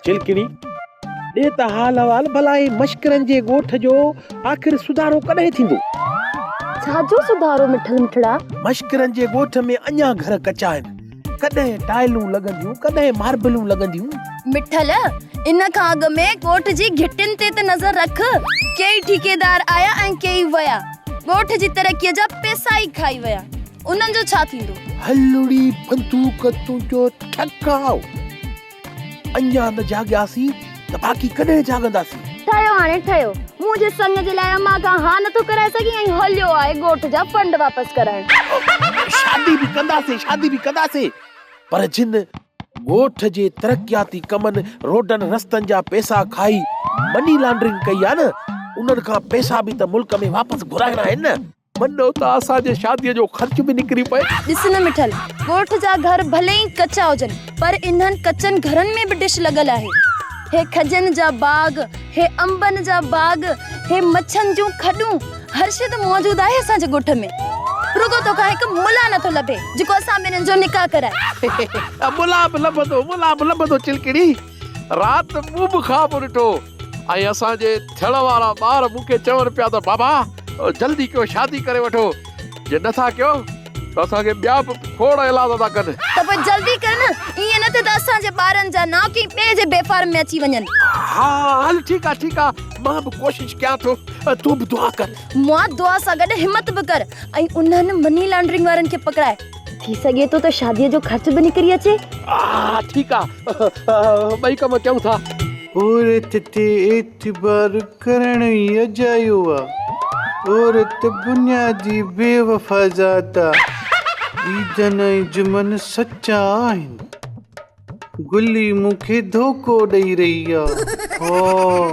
جلکڙي، ڏي ته حال احوال ڀلا هي مشڪرن جي ڳوٺ جو آخر سڌارو ڪڏهن ٿيندو؟ ڇا جو سڌارو مٺل مٺڙا؟ مشڪرن جي ڳوٺ ۾ اڃا گهر ڪچا آهن، ڪڏهن ٽائلون لڳنديون ڪڏهن ماربلون لڳنديون. مٺل، ان کان اڳ ۾ ڳوٺ جي گهٽين تي ته نظر رک، ڪيئي ٺيڪيدار آيا ۽ ڪيئي ويا، ڳوٺ جي ترقيء جا پئسا ئي کائي ويا. انهن جو ڇا ٿيندو؟ هلڙي بندوق تنهنجو ٺڪاء. اڃا نه جاڳياسين ته باقي ڪڏهن جاڳنداسين؟ ٺهيو هاڻي ٺهيو. مون جي سڱ جي لاء امان کان ها نه ٿو ڪرائي سگهين ۽ هليو آهي ڳوٺ جا فنڊ واپس ڪرائڻ. شادي به ڪنداسين شادي به ڪنداسين پر جن ڳوٺ جي ترقياتي ڪمن روڊن رستن جا پئسا کائي مني لانڊرنگ ڪئي آهي نه انهن کان پئسا به ته ملڪ ۾ واپس گهرائڻا آهن نه. منو ته اسان جي شاديء جو خرچ به نڪري پئي. ڏس نه مٺل، ڳوٺ جا گهر ڀلي ئي ڪچا هجن، پر انهن ڪچن گهرن ۾ به ڊش لڳل آهي. هي کجين جا باغ، هي انبن جا باغ، هي مڇن جون کڏون، هر شيء ته موجود آهي اسان جي ڳوٺ ۾. رڳو تو کان هڪ ملان نه ٿو لڀي، جيڪو اسان ٻنهين جو نڪاح ڪرائي. ملان به لڀندو، ملان به لڀندو چلڪڙي. رات مون به خواب ڏٺو. ۽ اسان جي ٿيڻ وارا ٻار مون کي چون پيا ته بابا جلدي ڪيو شادي ڪري وٺو جي نه ٿا ڪيو ته اسان کي ٻيا به کوڙ ايلاز ٿا ڪن. ته پوء جلدي ڪر نه ائين نه ٿئي ته اسان جي ٻارن جا نانء ڪنهن ٻئي جي بي فارم ۾ اچي وڃن. ها هل ٺيڪ آهي ٺيڪ آهي مان به ڪوشش ڪيان ٿو تون به دعا ڪر. مئا دعا سان گڏ همت به ڪر ۽ انهن مني لانڊرنگ وارن کي پڪڙاء. ٿي سگهي ٿو ته شاديء جو خرچ به نڪري اچي. آه ٺيڪ آ ٻئي ڪم ڪيون ٿا. عورت تي اعتبار ڪرڻ ئي اجايو آ. عورت بنيادي بيوفا ذات آ. عيدن ۽ جمعن سچا آهن. گلي مون کي ڌوڪو ڏئي رهي آ هاء.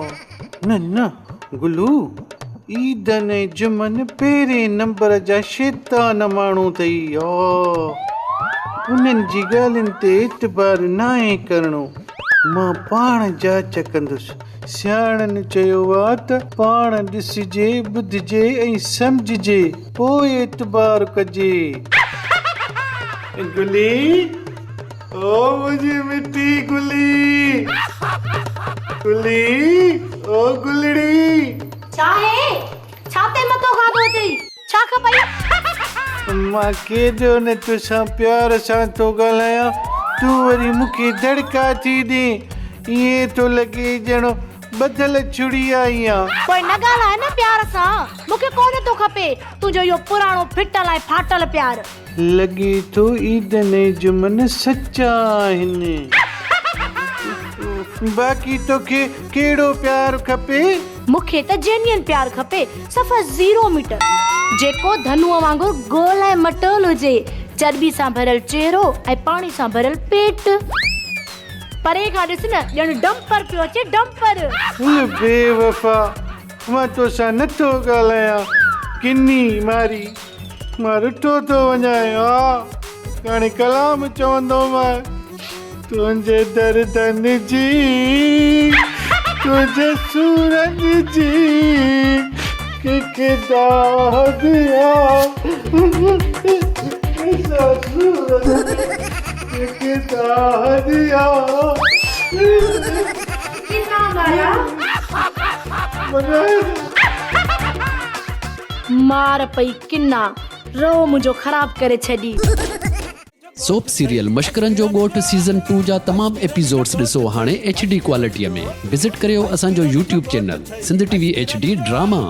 نه نه گلو عيدن ۽ جمعن پهرين نمبر جا شيطان ماڻهو اٿئي هاء. انهن جي ڳالهين تي اعتبار ناهي ڪرڻو. مان پاڻ جاچ ڪندس. سياڻن چيو آ ته پاڻ ڏسجي ٻڌجي ۽ سمجهجي پوء اعتبار ڪجي. گلي. او منهنجي مٺي گلي گلي او گلڙي. ڇا هي ڇا تي متو کاڌو اٿئي ڇا کپئي. مان ڪيڏو نه توسان پيار سان ٿو ڳالهايان تون وري مون کي دڙڪا ٿي ڏين ائين ٿو لڳي ڄڻ ٻڌل ڇڙي آئي آن. پوء نه ڳالهاء نه پيار سان مون کي ڪونه ٿو کپي تنهنجو اهو پراڻو ڦٽل ۽ ڦاٽل پيار. لڳي ٿو عيدن ۽ جمعن سچا آهن. باقي توکي ڪهڙو پيار کپي؟ مون کي ته جينين پيار کپي، صفا زيرو ميٽر، جيڪو ڌنوء وانگر گول ۽ مٽول هجي، چرٻي سان ڀريل چهرو ۽ پاڻي سان ڀريل پيٽ. پري کان ڏس نه ڄڻ ڊمپر پيو اچي، ڊمپر. هل بي وفا، مان توسان نٿو ڳالهايان، ڪني ماري. مان رٺو ٿو وڃان آ ڪاڻي ڪلام چوندو مان تنهنجي دردن جي تنهنجي سورن جي ڪيڪ داهه ديا ڪيڪ داهه ديا مار پئي ڪنا روح منهنجو خراب ڪري ڇڏي. سوپ سيريل مشڪرن جو ڳوٺ سيزن ٽو جا تمام ايپيسوڊس ڏسو هاڻي ايڇ ڊي ڪوالٽيء ۾ وزٽ ڪريو اسان جو YouTube channel Sindh T V H D drama.